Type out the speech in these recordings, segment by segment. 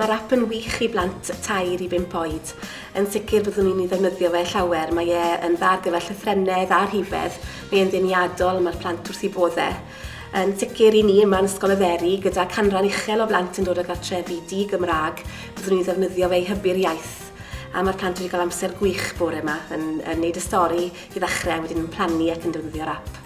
Mae'r app yn wych i blant tair i bump oed. Yn sicr byddwn i'n ei ddefnyddio fe llawer, mae e yn dda ar gyfer llythrennedd a rhifedd, mae e'n ddeniadol a mae'r plant wrth i bodde. Yn sicr i ni yma yn Ysgol y Feri, gyda canran uchel o blant yn dod o gartrefi di-Gymraeg, byddwn i'n ddefnyddio fe i hybu'r iaith. A mae'r plant wedi cael amser gwych bore yma yn, yn neud y stori i ddechrau a wedyn yn plannu ac yn defnyddio'r app.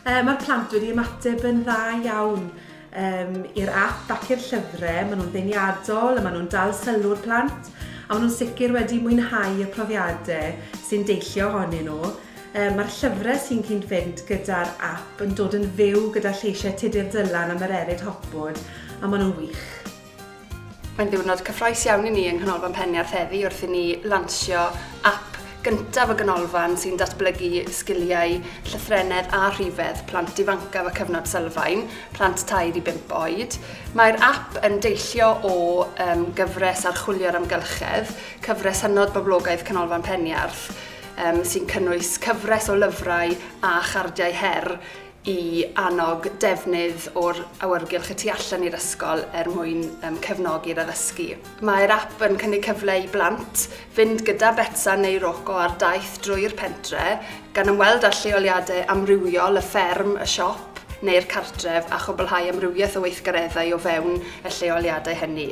Uh, mae'r plant wedi ymateb yn dda iawn um, i'r app ac i'r llyfrau. Maen nhw'n ddeniadol, a maen nhw'n dal sylw'r plant, a maen nhw'n sicr wedi mwynhau y profiadau sy'n deillio ohonyn nhw. Um, Mae'r llyfrau sy'n cyn fynd gyda'r app yn dod yn fyw gyda lleisiau Tudur Dylan am yr erid hopwood, a maen nhw'n wych. Mae'n ddiwrnod cyffrous iawn i ni yng Nghanolfan Penniarth heddi wrth i ni lansio ap gyntaf y Ganolfan sy'n datblygu sgiliau llythrennedd a rhifedd plant ifancaf y cyfnod sylfaen, plant 3 i 5 oed. Mae'r ap yn deillio o um, gyfres archwilio'r amgylchedd, cyfres hynod boblogaidd Canolfan Penniarth, um, sy'n cynnwys cyfres o lyfrau a chardiau her i annog defnydd o'r awyrgylch y tu allan i'r ysgol er mwyn um, cefnogi'r addysgu. Mae'r app yn cynnig cyfle i blant fynd gyda Betsa neu Roco ar daith drwy'r pentre, gan ymweld â lleoliadau amrywiol y fferm, y siop neu'r cartref a chwblhau amrywiaeth o weithgareddau o fewn y lleoliadau hynny.